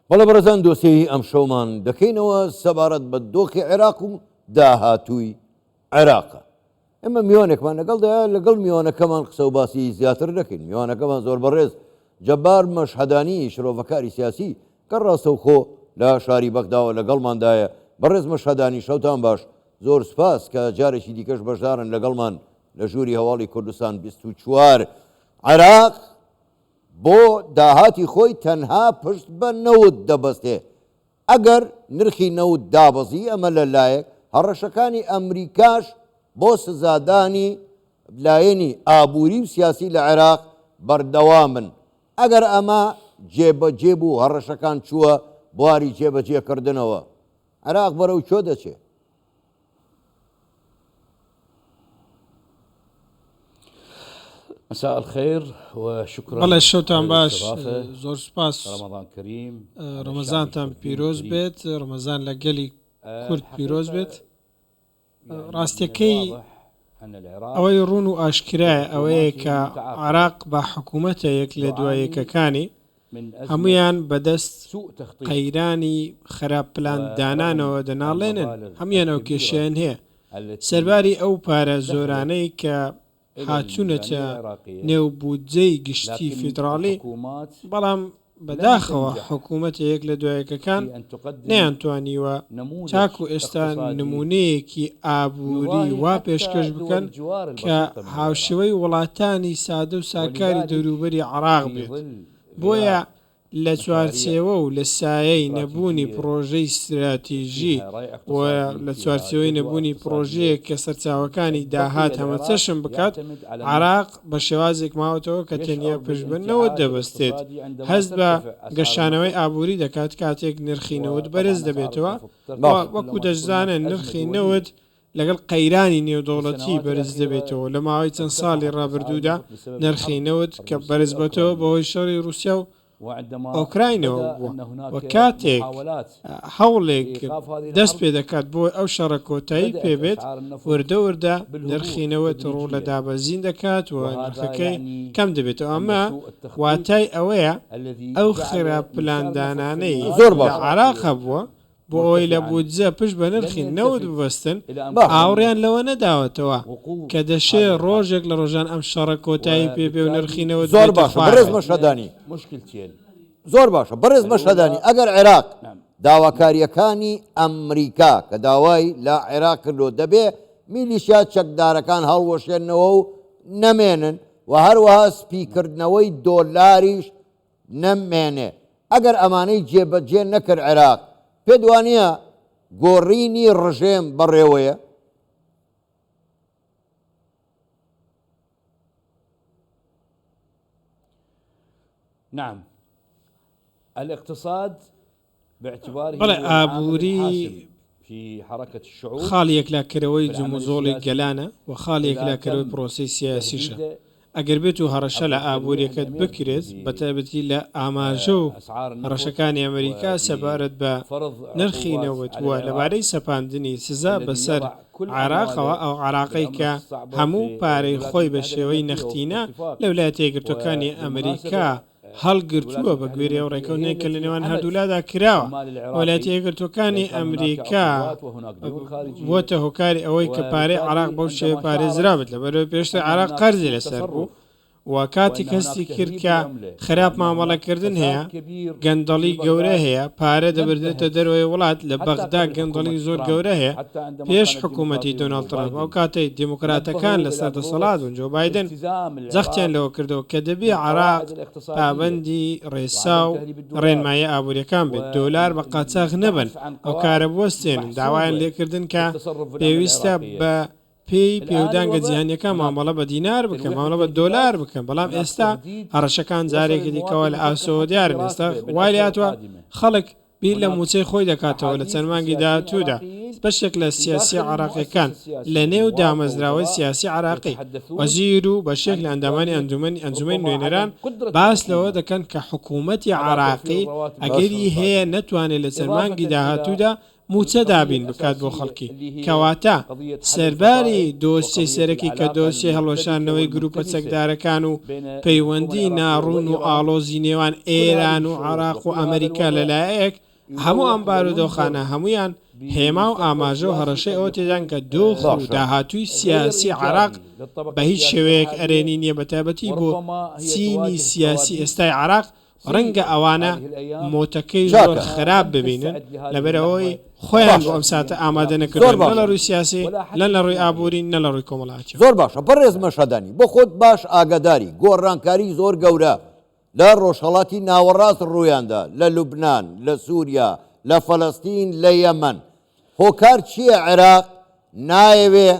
بەڵێ بەڕێزان دۆسێی ئەمشەومان دەکەینەوە سەبارەت بە دۆخی عێراق و داهاتووی عێراقە. ئێمە میوانێکمان لەگەڵدا لەگەڵ میوانەکەمان قسە و باسی زیاتر دەکەین میوانەکەمان زۆر بەڕێز جەبار مەشهدانی شرۆڤەکاری سیاسی کە ڕاستەوخۆ لە شاری بەغداوە لەگەڵماندایە بەڕێز مەشهدانی شەوتان باش زۆر سپاس کە جارێکی دیکەش بەشدارن لەگەڵمان لە ژووری هەواڵی کوردستان 24 عراق بۆ داهاتی خۆی تەنها پشت بە نەوت دەبەستێ، ئەگەر نرخی نەوت دابەزی ئەمە لە لایەک، هەڕەشەکانی ئەمریکاش بۆ سزادانی لایەنی ئابووری و سیاسی لە عێراق بەردەوامن، ئەگەر ئەمە جێبەجێ بوو، هەڕەشەکان چووە بواری جێبەجێکردنەوە، عێراق بەرەو کوێ دەچێ؟ بەڵێ شەوتان باش زۆر سوپاس ڕەمەزانتان پیرۆز بێت ڕەمەزان لە گەلی کورد پیرۆز بێت ڕاستەکەی ئەوەی ڕون و ئاشکرای ئەوەیە کە عراق بە حکوومەتە یەک لە دوایەکەکانی هەموویان بەدەست قەیرانی خەراپ پلان دانانەوە دەناڵێنن هەموویان ئەو کێشەیان هەیە سەرباری ئەو پارە زۆرانەی کە هاتوونەتە نێو بودجەی گشتی فیدڕاڵی بەڵام بەداخەوە حکوومەتە یەک لە دوایەکەکان نەیانتوانیوە تاکو ئێستا نموونەیەکی ئابووری وا پێشکەش بکەن کە هاوشێوەی وڵاتانی سادە و ساکاری دەوروبەری عێراق بێت. بۆیە لە چوارچێوە و لە سایەی نەبوونی پڕۆژەی ستراتیژی و لە چوارچێوەی نەبوونی پڕۆژەیەک کە سەرچاوەکانی داهات هەمەچەشن بکات، عێراق بە شێوازێک ماوەتەوە کە تەنیا پشت بە نەوت دەبەستێت، هەست بە گەشانەوەی ئابووری دەکات کاتێک نرخی نەوت بەرز دەبێتەوە و وەکو دەشزانن نرخی نەوت لەگەڵ قەیرانی نێودەوڵەتی بەرز دەبێتەوە، لە ماوەی چەند ساڵی ڕابردوودا نرخی نەوت کە بەرزبۆتەوە بەهۆی شەڕی ڕووسیا و ئۆکراینەوە بووە و کاتێک هەوڵێک دەست پێ دەکات بۆ ئەو شەڕە کۆتایی پێ بێت وردە وردە نرخی نەوت ڕوو لە دابەزین دەکات و نرخەکەی کەم دەبێتەوە ئەمە واتای ئەوەیە ئەو خراپ پلاندانانەی زۆر بە عێراق هەبووە بۆ ئەوەی لە بودجە پشت بە نرخی نەوت ببەستن، ئاوڕیان لەوە نەداوەتەوە کە دەشێ ڕۆژێک لە ڕۆژان ئەم شەڕە کۆتایی پێ بێ و نرخی نەوت بێتە خوارەوە. زۆر باشە بەڕێز مەشهەدانی، ئەگەر عێراق داواکارییەکانی ئەمریکا کە داوای لە عێراق کردووە، دەبێ میلیشیا چەکدارەکان هەڵوەشێنەوە و نەمێنن و هەروەها سپیکردنەوەی دۆلاریش، نەمێنێ ئەگەر ئەمانەی جێ بە جێ نەکرد عێراق پێت وانیە گۆڕینی ڕژێم بە ڕێوەیە؟ نعم الاقتصاد بەڵێ ئابووری خاڵی یەکلاکەرەوەی جموجۆڵی گەلانە و خاڵی یەکلاکەرەوەی پرۆسەی سیاسیشە، ئەگەر بێتو هەڕەشە لە ئابووریەکەت بکرێت بە تایبەتی لە ئاماژە و هەڕەشەکانی ئەمریکا سەبارەت بە نرخی نەوت و لەبارەی سەپاندنی سزا بەسەر عێراقەوە ئەو عێراقەی کە هەموو پارەی خۆی بە شێوەی نەختینە لە ولایەتە یەکگرتوەکانی ئەمریکا هەڵگرتووە، بەگوێرەی ئەو ڕێکەوتنەی کە لەنێوان هەردوولادا کراوە، وەلایەتە یەکگرتووەکانی ئەمریکا بووەتە هۆکاری ئەوەی کە پارەی عێراق بەو شێوەیە پارێزرابێت، لەبەرئەوەی پێشتر عێراق قەرزی لەسەر بوو و کاتێک هەستی کرد کە خراپ مامەڵەکردن هەیە، گەندەڵی گەورە هەیە، پارە دەبردرێتە دەرەوەی وڵات، لە بەغدا گەندەڵی زۆر گەورە هەیە، پێش حکوومەتی دۆناڵد ترەمپ، ئەو کاتەی دیموکراتەکان لەسەر دەسەڵات بوون، جۆ بایدن. جەختیان لەوە کردەوە کە دەبێ عێراق پابەندی ڕێسا و ڕێنماییە ئابوورییەکان بێت، دۆلار بە قاچاخ نەبەن و کارە بوەستێنن، داوایان لێ کردن کە پێویستە بە پێی پێودانگە جیهانییەکان مامەڵە بە دینار بکەن، مامەڵە بە دۆلار بکەن، بەڵام ئێستا هەڕەشەکان جارێکی دیکەوە لە ئاسۆوە دیارن، ئێستا وای لێهاتووە خەڵک بیر لە مووچەی خۆی دەکاتەوە لە چەند مانگی داهاتوودا بەشێک لە سیاسیە عێراقیەکان لە نێو دامەزراوەی سیاسی عێراقی وەزیر و بەشێک لە ئەندامانی ئەنجومەنی ئەنجومەنی نوێنەران باس لەوە دەکەن کە حکوومەتی عێراقی ئەگەری هەیە نەتوانێت لە چەند مانگی داهاتوودا مووچە دابین بکات بۆ خەڵکی کەواتە سەرباری دۆسیەی سەرەکی کە دۆسیەی هەڵوەشاندنەوەی گرووپە چەکدارەکان و پەیوەندی ناڕوون و ئاڵۆزی نێوان ئێران و عێراق و ئەمەریکا لە لایەک، هەموو ئەم بارودۆخانە هەموویان هێما و ئاماژە و هەڕەشەی ئەوە تێدان کە دۆخ و داهاتووی سیاسی عێراق بە هیچ شێوەیەک ئەرێنی نییە بەتایبەتی بۆ چینی سیاسی ئێستای عێراق، ڕەنگە ئەوانە مۆتەکەی زۆر خراپ ببینن لەبەرئەوەی خۆیان بۆ ئەم ساتە ئامادە نەکردوون نە لە ڕووی سیاسی لە لە ڕووی ئابووری نە لە ڕووی کۆمەڵایەتی. زۆر باشە بەڕێز مەشهەدانی بۆ خۆت باش ئاگاداری گۆڕانکاری زۆر گەورە لە ڕۆژهەڵاتی ناوەڕاست ڕوویاندا لە لوبنان لە سوریا لە فەلەستین لە یەمەن هۆکار چییە عێراق نایەوێ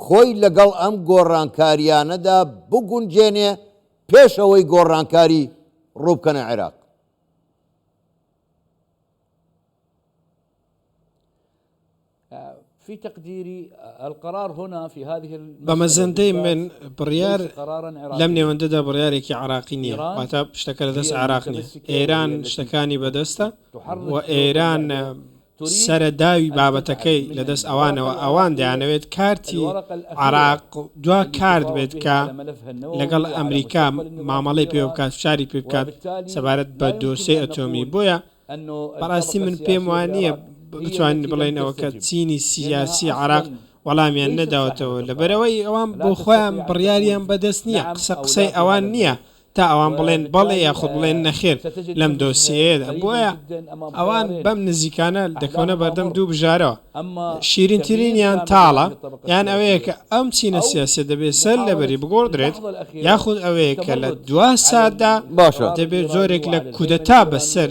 خۆی لەگەڵ ئەم گۆڕانکارییانەدا بگونجێنێ پێش ئەوەی گۆڕانکاری ڕووبکەنە عێراق. بە مەزەندەی من بڕیار لەم نێوەندەدا بڕیارێکی عراقی نییە واتا شتەکە لە دەست عراق نیە ئێران شتەکانی بەدەستە و ئێران سەرە داوی بابەتەکەی لە دەست ئەوانەوە ئەوان دەیانەوێت کارتی عراق دوا کارت بێت کە لەگەڵ ئەمریکا مامەڵەی پێ بکات فشاری پێ بکات سەبارەت بە دۆسێ ئەتۆمی بۆیە بەڕاستی من پێم وانە بتوانین بڵێنەوە کە چینی سیاسی عراق وەڵامیان نەداوەتەوە لەبەرەوەی ئەوان بۆ خۆیان بڕیاریان بەدەست نییە قسە قسەی ئەوان نییە تا ئەوان بڵێن بەڵێ یاخود بڵێن نەخێر لەم دۆسیەیەدا، بۆیە ئەوان بەم نزیکانە دەکەونە بەردەم دوو بژارەوە، شیرینترینیان تاڵە، یان ئەوەیە کە ئەم چینە سیاسییە دەبێت سەر لەبەری بگۆڕدرێت، یاخود ئەوەیە کە لە دوا ساتدا دەبێت جۆرێک لە کودەتا بەسەر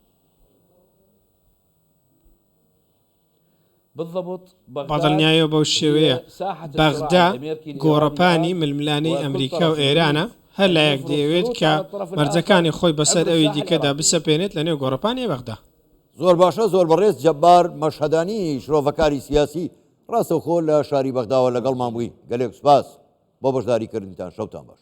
بەدڵنیایەوە بەو شێوەیە بەغدا گۆڕەپانی ململانێی ئەمریکا و ئێرانە هەر لایەک دەیەوێت کە مەرجەکانی خۆی بەسەر ئەوی دیکەدا بسەپێنێت لەنێو گۆڕەپانی بەغدا. زۆر باشە زۆر بەڕێز جەبار مەشهەدانی شرۆڤەکاری سیاسی ڕاستەوخۆ لە شاری بەغداوە لەگەڵمان بووی گەلێک سوپاس بۆ بەشداریکردنتان شەوتان باش.